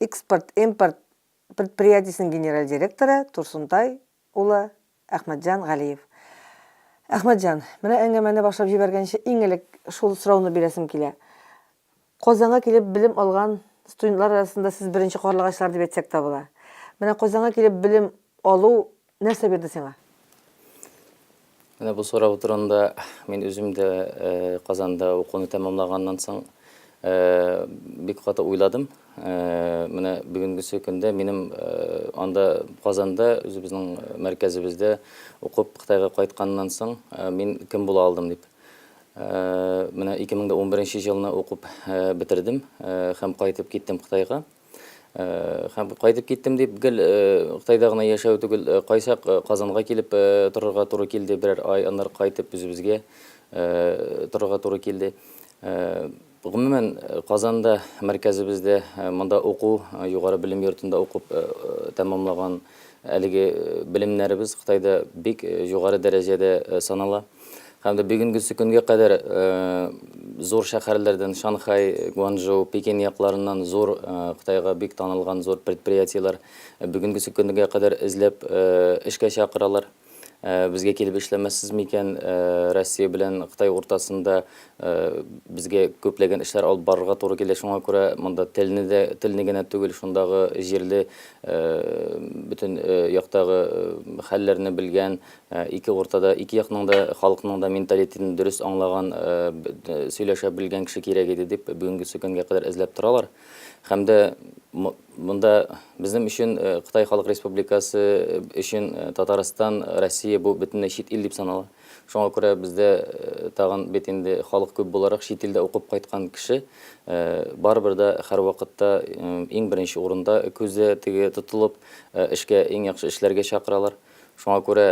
Экспорт-импорт предприятиесенең генераль директоры Турсунтай улы Әхмәтҗан Галиев. Әхмәтҗан, менә әңгәмәне башлап җибәргәнче иң элек шул сорауны бирәсем килә. Казанга килеп белем алган студентлар арасында сез беренче карлыгачлар дип әйтсәк тә була. Менә Казанга килеп белем алу Нәрсә бирде сиңа? Менә бу сорау турында мин үзем дә Казанда укуны тәмамлаганнан соң бик каты уйладым. Менә бүгенгесе көндә минем анда Казанда үзебезнең мәркәзебездә укып Кытайга кайтканнан соң мин кем була алдым дип. Менә 2011 елны укып бетердем һәм кайтып киттем Кытайга. Һәм кайтып киттем дип, гел Кытайда гына яшәү түгел, кайчак Казанга килеп торырга туры килде, берәр ай, аннары кайтып үзебезгә торырга туры килде. Гомумән, Казанда, мәркәзебездә, монда уку, югары белем йортында укып тәмамлаган әлеге белемнәребез Кытайда бик югары дәрәҗәдә санала. Һәм дә бүгенгесе көнгә кадәр зур шәһәрләрдән Шанхай, Гуанчжоу, Пекин якларыннан зур Кытайга бик танылган зур предприятиеләр бүгенгесе көнгә кадәр эзләп эшкә чакыралар. Безгә килеп эшләмәссез микән? Россия белән Кытай уртасында безгә күпләгән эшләр алып барырга туры килә. Шуңа күрә монда телне дә, телне генә түгел, шундагы җирле бөтен яктагы хәлләрне белгән, Ә ике уртада ике якның да халыкның да менталитетын дөрес аңлаган, э, б- д- сөйләшә белгән кеше кирәк иде дип бүгенгесе көнгә кадәр эзләп торалар. Һәм дә м- монда безнең өчен э, Кытай Халык Республикасы өчен э, Татарстан, Россия бу бөтенләй чит ил дип санала. Шуңа күрә бездә э, тагын бит инде халык күп буларак чит илдә укып кайткан кеше э, барыбер дә һәрвакытта э, иң беренче урында күзе теге тотылып э, эшкә иң яхшы эшләргә чакыралар. Шуңа күрә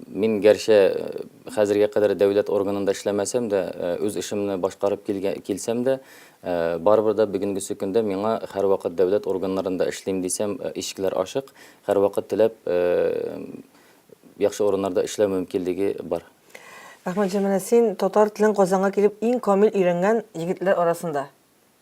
мин гәрчә хәзергә кадәр дәүләт органында эшләмәсәм дә, үз эшемне башкарып килсәм дә, барыбер дә бүгенгесе көндә миңа һәрвакыт дәүләт органнарында эшлим дисәм, ишекләр ачык, һәрвакыт теләп яхшы урыннарда эшләү мөмкинлеге бар. Әхмәтҗан, менә син татар телен Казанга килеп иң камил өйрәнгән егетләр арасында.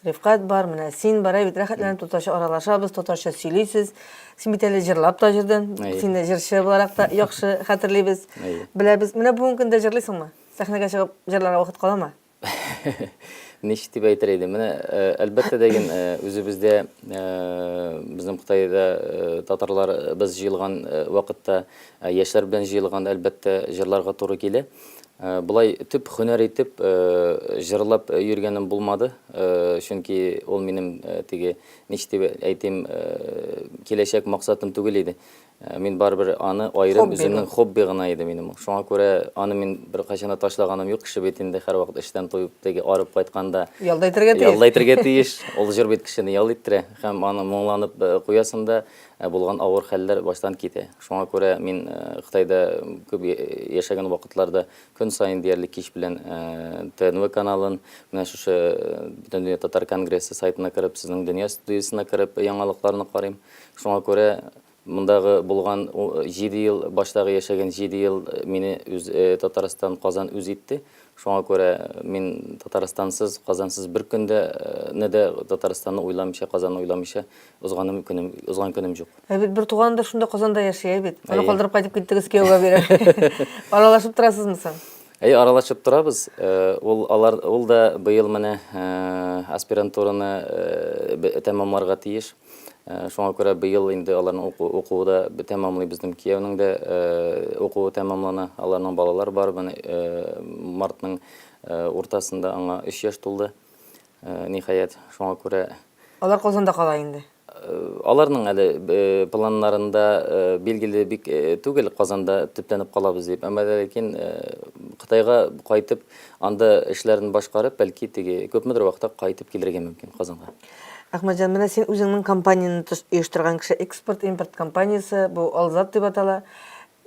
Рифкать бар, менә син бар, бит рәхәтләнеп татарча аралашабыз, татарча сөйлисез. Син бит әле җырлап та җырдың. Син җырчы буларак та яхшы хәтерлибез. Беләбез. Менә бүгенге көндә җырлыйсыңмы? Сәхнәгә чыгып җырларга вакыт каламы? Ничек дип әйтер идем? Менә э, әлбәттә дә ген э, үзебездә э, безнең Кытайда татарлар без җыелган вакытта яшьләр белән җыелганда әлбәттә җырларга туры килә. Болай төп хөнәр итеп җырлап йөргәнем булмады, чөнки ул минем теге, ничек дип әйтим, киләчәк максатым түгел иде. Мин барыбер аны аерым үземнең хобби гына иде минем. Шуңа күрә аны мин беркайчан да ташлаганым юк, кеше бит инде һәрвакыт эштән туеп, теге арып кайтканда ял да итәргә тиеш. Ял да итәргә тиеш. Ул җыр бит кешене ял иттерә һәм аны моңланып куясың да, Ә булган авыр хәлләр баштан китә. Шуңа күрә мин Кытайда күп яшәгән вакытларда көн саен диярлек кич белән ТНВ каналын, менә шушы Бөтендөнья татар конгрессы сайтына кереп, сезнең Дөнья студиясенә кереп яңалыкларны карыйм. Шуңа күрә мондагы булган җиде ел, баштагы яшәгән җиде ел мине үз Татарстан, Казан үз итте. Шуңа күрә мин Татарстансыз, Казансыз бер көн дә не дә Татарстанны уйламыйча, Казанны уйламыйча Узганым көнем, узган көнем жук. Ә бит бер туганы да шунда Казанда яши, ә бит. Аны калдырып кайтып киттегез кияүгә бирә. Аралашып торасызмы соң? Әй, аралашып торабыз. Э, ул алар ул да быел менә э, аспирантураны э, тәмамларга тиеш. Шуңа күрә быел инде аларның укуы да тәмамлый безнең кияүнең дә укуы тәмамлана. Аларның балалар бар. Менә мартның уртасында аңа 3 яшь тулды. Ниһаять, шуңа күрә. Алар Казанда кала инде. Аларның әле планнарында билгеле бик түгел Казанда төпләнеп калабыз дип. Әмма ләкин Кытайга кайтып, анда эшләрен башкарып, бәлки теге күпмедер вакытта кайтып килергә мөмкин Казанга. Әхмәтҗан, менә син үзеңнең компанияне оештырган кеше, экспорт-импорт компаниясе, бу Алзат дип атала.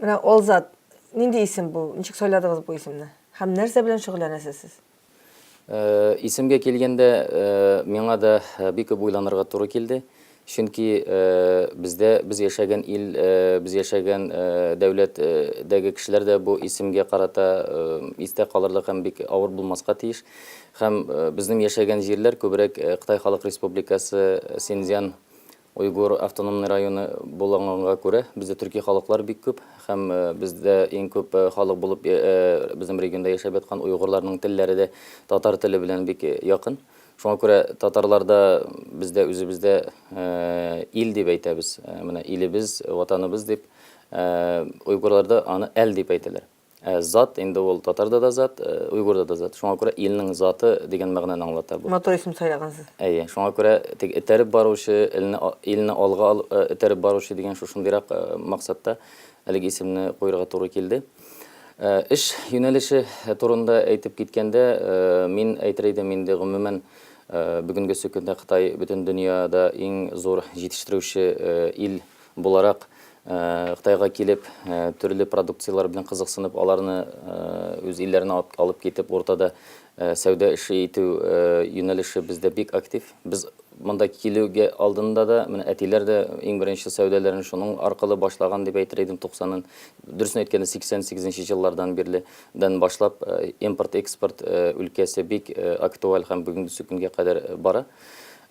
Менә Алзат, нинди исем бу? Ничек сайладыгыз бу исемне? Һәм нәрсә белән шөгыльләнәсез сез? Исемгә килгәндә, миңа да бик күп уйланырга туры килде. Чөнки бездә, без яшәгән ил, без яшәгән дәүләт дәге кешеләр дә бу исемгә карата истә калырлык һәм бик авыр булмаска тиеш. Һәм безнең яшәгән җирләр күбрәк Кытай Халык Республикасы, Синьцзян Уйгур автономный районы буланганга күрә, бездә төрки халыклар бик күп һәм бездә иң күп халык булып безнең регионда яшәп яткан уйгурларның телләре дә татар теле белән бик якын. Шуңа күрә татарларда бездә үзебездә ил дип әйтәбез, менә илебез, ватаныбыз дип, уйгурларда аны әл дип әйтәләр. Ә зат инде ул татарда да зат, уйгурда да зат. Шуңа күрә илнең заты дигән мәгънәне аңлата бу. Матур исем сайлагансыз. Әйе, шуңа күрә теге этәреп баручы, илне илне алга этәреп баручы дигән шушындыйрак максатта әлеге исемне куярга туры килде. Эш юнәлеше турында әйтеп киткәндә, мин әйтер идем инде гомумән бүгенге сөкендә Кытай бөтен дөньяда иң зур җитештерүче ил буларак Кытайга килеп, төрле продукцияләр белән кызыксынып, аларны үз илләренә алып китеп, уртада сәүдә эше итү юнәлеше бездә бик актив. Без монда килүгә алдында да, менә әтиләр дә иң беренче сәүдәләрен шуның аркылы башлаган дип әйтер идем, 90, дөресен әйткәндә, 88 нче еллардан бирле дән башлап, импорт-экспорт өлкәсе бик актуаль һәм бүгенге көнгә кадәр бара.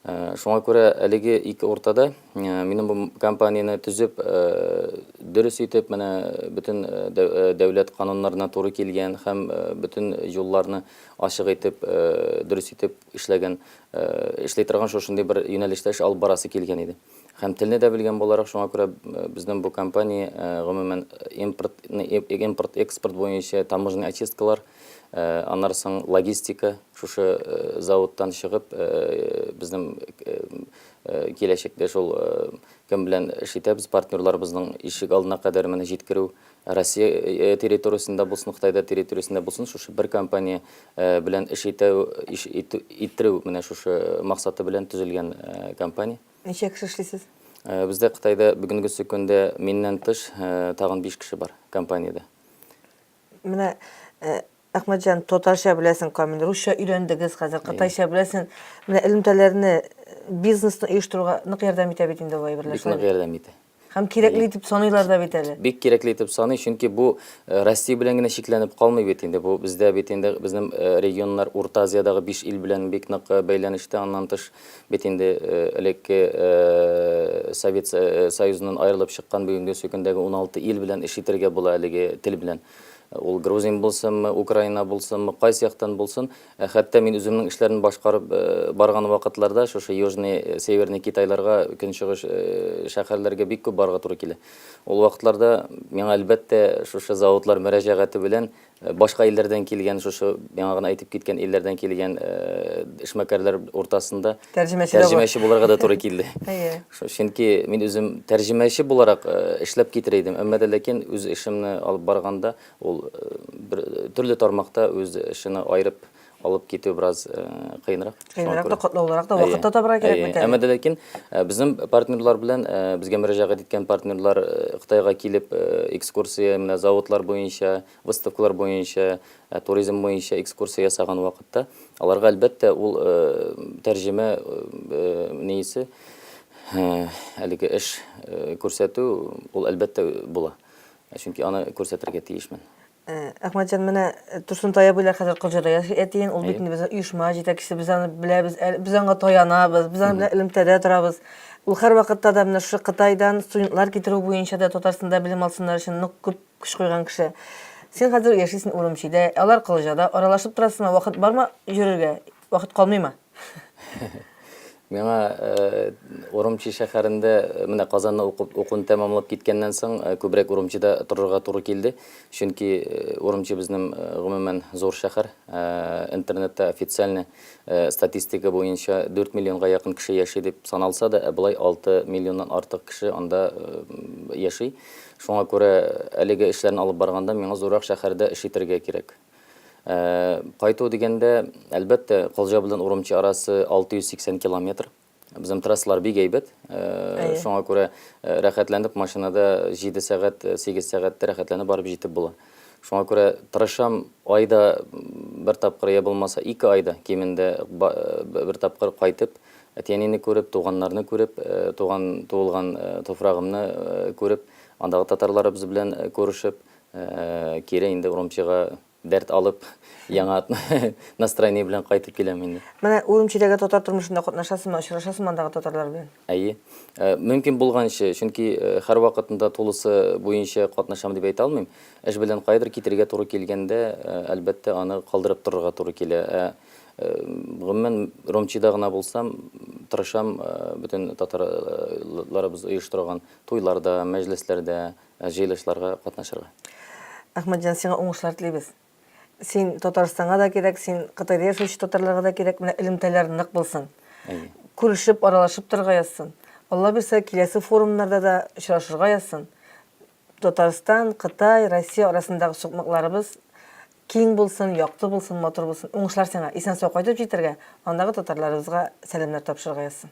Шуңа күрә әлеге ике уртада минем бу компанияне төзеп, дөрес итеп, менә бөтен дәүләт кануннарына туры килгән һәм бөтен юлларны ачык итеп, дөрес итеп эшләгән, эшли торган шушындый бер юнәлештә эш алып барасы килгән иде. Һәм телне дә белгән буларак, шуңа күрә безнең бу компания, гомумән, импорт, импорт, экспорт буенча таможенный очисткалар, аннары соң логистика, шушы заводтан чыгып, безнең киләчәктә шул кем белән эш итәбез, партнерларыбызның ишек алдына кадәр менә җиткерү, Россия территориясендә булсын, Кытайда территориясендә булсын, шушы бер компания белән эш итәү, иш итү, иттерү, менә шушы максаты белән төзелгән компания. Ничә кеше эшлисез? Бездә Кытайда бүгенгесе көндә миннән тыш тагын биш кеше бар компаниядә. Менә Әхмәтҗан, татарча беләсен камил, русча өйрәндегез хәзер, кытайча беләсен. Менә элемтәләрне, бизнесны оештыруга нык ярдәм итә бит инде ул әйберләр. Бик нык ярдәм итә. Һәм кирәкле итеп саныйлар да бит әле. Бик кирәкле итеп саный, чөнки бу Россия белән генә чикләнеп калмый бит инде. Бу бездә бит инде безнең регионнар Урта Азиядагы биш ил белән бик нык бәйләнештә. Аннан тыш бит инде элекке Совет Союзыннан аерылып чыккан бүгенге сөкендәге уналты ил белән эш итәргә була әлеге тел белән. Ул грузин булсынмы, Украина булсынмы, кайсы яктан булсын, ә хәтта мин үземнең эшләрне башкарып барган вакытларда шушы Южный, Северный Китайларга, Көнчыгыш шәһәрләргә бик күп барырга туры килә. Ул вакытларда миңа әлбәттә шушы заводлар мөрәҗәгате белән башка илләрдән килгән, шушы яңа гына әйтеп киткән илләрдән килгән эшмәкәрләр уртасында тәрҗемәче булырга да туры килде. Чөнки мин үзем тәрҗемәче буларак эшләп китер идем, әмма дә ләкин үз эшемне алып барганда ул бер төрле тармакта үз эшене аерып алып китү бераз кыенрак. Кыенрак та катлаулырак та вакыт та табырга кирәк бит әле. Әмма дә ләкин безнең партнерлар белән безгә мөрәҗәгать иткән партнерлар Кытайга килеп экскурсия менә заводлар буенча, Выставкалар буенча, туризм буенча экскурсия ясаган вакытта, аларга, әлбәттә, ул тәрҗемә неисе, әлеге эш күрсәтү, ул, әлбәттә, була. Чөнки аны күрсәтергә тиешмен. Әхмәтҗан, менә Турсун тае буйлар хәзер Кылҗада яши әтиең, ул бит инде безнең оешма җитәкчесе, без аны беләбез, без аңа таянабыз, без аны элемтәдә торабыз. Ул һәрвакытта да менә шушы Кытайдан студентлар китерү буенча да Татарстанда белем алсыннар өчен нык күп Күз куйган кеше. Син хәзер яшисен Урумчидә, алар Кылыҗада, аралашып торасыңмы, вакыт бармы йөрергә, вакыт калмыймы? Миңа Урумчи шәһәрендә, менә Казанны укып, укуын тәмамлап киткәннән соң, күбрәк Урумчида торырга туры килде. Чөнки Урумчи безнең, гомумән, зур шәһәр. Интернетта официальный статистика буенча 4 миллионга якын кеше яши дип саналса да, ә болай 6 миллионнан артык кеше анда яши. Шуңа күрә әлеге эшләрне алып барганда миңа зуррак шәһәрдә эш итәргә кирәк. Ә, кайту дигәндә, әлбәттә, Колҗа белән Урумчи арасы 680 километр. Безнең трассалар бик әйбәт. Ә, Әйе. Шуңа күрә, ә, рәхәтләнеп машинада 7 сәгать, 8 сәгатьтә рәхәтләнеп барып җитеп була. Шуңа күрә тырышам, айда бер тапкыр я булмаса ике айда кимендә бер тапкыр кайтып, әти-әнине күреп, туганнарны күреп, туган, туылган туфрагымны күреп, андагы татарларыбыз белән күрешеп, кире инде Урумчига дәрт алып, яңа настроение белән кайтып киләм инде. Менә Урумчидәге татар тормышында катнашасыңмы, очрашасыңмы андагы татарлар белән? Әйе. Э, мөмкин булганчы, чөнки э, һәр вакытында тулысы буенча катнашам дип әйтә алмыйм. Эш белән кайдыр китергә туры килгәндә, э, әлбәттә, аны калдырып торырга туры килә. Ә гомумән Ромчида гына булсам, тырышам бөтен татарларыбыз оештырган туйларда, мәҗлесләрдә, җыелышларга катнашырга. Әхмәтҗан, сиңа уңышлар телибез. син Татарстанга да кирәк, син Кытайда яшәүче татарларга да кирәк, менә элемтәләр нык булсын. Әйе. Күрешеп, аралашып торырга язсын. Алла бирсә, киләсе форумнарда да очрашырга язсын. Татарстан, Кытай, Россия арасындагы сукмакларыбыз киң булсын, якты булсын, матур булсын. Уңышлар сиңа. Исән-сау кайтып җитәргә, андагы татарларыбызга сәламнәр тапшырырга язсын.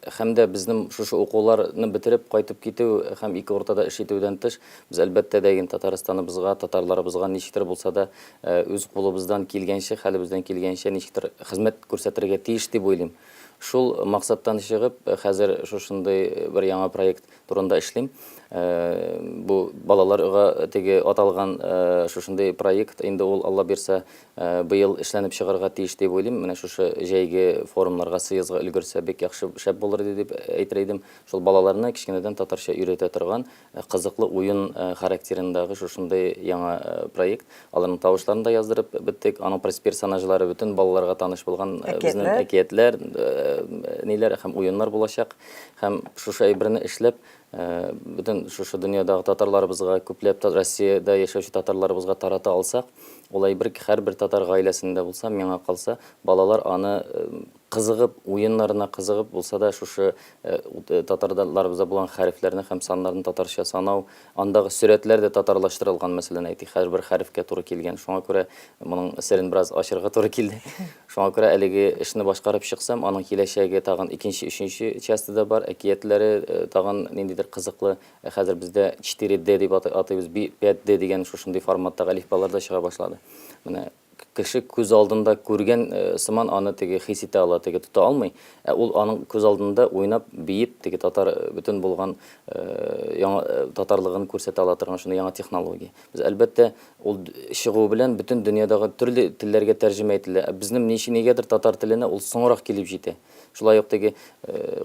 Һәм дә безнең шушы укулар ны бетереп кайтып китү һәм ике уртада эш итүдән тыш, без әлбәттә дә ин Татарстаныбызга, татарларыбызга ничектер булса да, үз кулыбыздан килгәнчә, хәлебездән килгәнчә ничектер хезмәт күрсәтергә тиеш дип уйлыйм. Шул максаттан чыгып, хәзер шушындый бер яңа проект турында эшлим. Бу балалар га теге аталган шушындый проект, инде ул, Алла бирса, быел эшләнеп чыгарга тиеш дип уйлыйм. Менә шушы җәйге форумнарга сыезга өлгерсә, бик яхшы, шәп булыр иде дип әйтер идем. Шул балаларны кечкенәдән татарча өйрәтә торган, кызыклы уен характерындагы шушындый яңа проект. Аларның тавышларын да яздырып беттек. Аның персонажлары бөтен балаларга таныш булган безнең әкиятләр, ниләр һәм уеннар булачак. Һәм шушы әйберне эшләп, Бөтен шушы дөньядагы татарларыбызга, күпләп та Россиядә яшәүче татарларыбызга тарата алсак, ул әйбер ки, һәрбер татар гаиләсендә булса, миңа калса, балалар аны кызыгып, уеннарына кызыгып булса да, шушы татарларыбызда булган хәрефләрне һәм саннарны татарча санау, андагы сөрәтләр дә татарлаштырылган, мәсәлән, әйтик, һәрбер хәрефкә туры килгән. Шуңа күрә Моның серен бераз ачырга туры килде. Шуңа күрә әлеге эшне башкарып чыксам, аның киләчәге тагын икенче, өченче часте да бар. Әкиятләре э, тагын ниндидер кызыклы. Э, хәзер бездә 4D дип аты- атыйбыз, би- 5D дигән шушындый форматтагы әлифбалар да чыга башлады. Менә к- кеше күз алдында күргән э, сыман аны теге хис итә ала, теге тота алмый. Ә ул аның күз алдында уйнап, биеп, теге татар э, бөтен булган э, яңа э, татарлыгын күрсәтә ала торган шундый яңа технология. Без, әлбәттә, ул чыгуы белән бөтен дөньядагы төрле телләргә тәрҗемә ителә. Ә безнем ничи нигәдер татар теленә ул соңрак килеп җитә. Шулай ук теге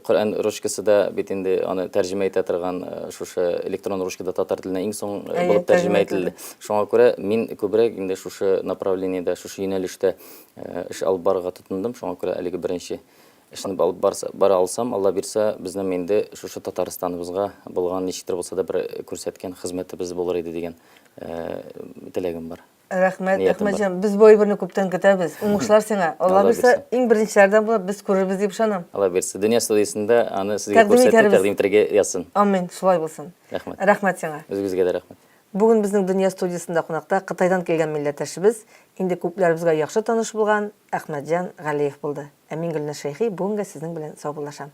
Коръән ручкасы да бит инде аны тәрҗемә итә торган шушы электрон ручка да татар теленә иң соң булып тәрҗемә ителде. Шуңа күрә мин күбрәк инде шушы направлениедә, шушы юнәлештә эш алып барырга тотындым. Шуңа күрә әлеге беренче Эшне алып барса, бара алсам, Алла бирса, безнең инде шушы Татарстаныбызга булган ничектер булса да бер күрсәткән хезмәтебез булыр иде дигән теләгем бар. Рәхмәт, Ниятым бар. Әхмәтҗан. Без бу әйберне күптән көтәбез. Уңышлар сиңа. Алла Алла бирса, бирса. иң беренчеләрдән булып без күрербез дип ышанам. Алла бирса, дөнья студиясендә аны сезгә Тәкъдим күрсәтеп, итәрбез. тәкъдим итәргә язсын. Амин, шулай булсын. Рәхмәт. Рәхмәт сиңа. Үзегезгә дә рәхмәт. Бүген безнең Дөнья студиясендә кунакта Кытайдан килгән милләттәшебез, инде күпләребезгә яхшы таныш булган Әхмәтҗан Галиев булды. Ә мин Гөлназ Шәйхи бүген гә сезнең белән саубуллашам.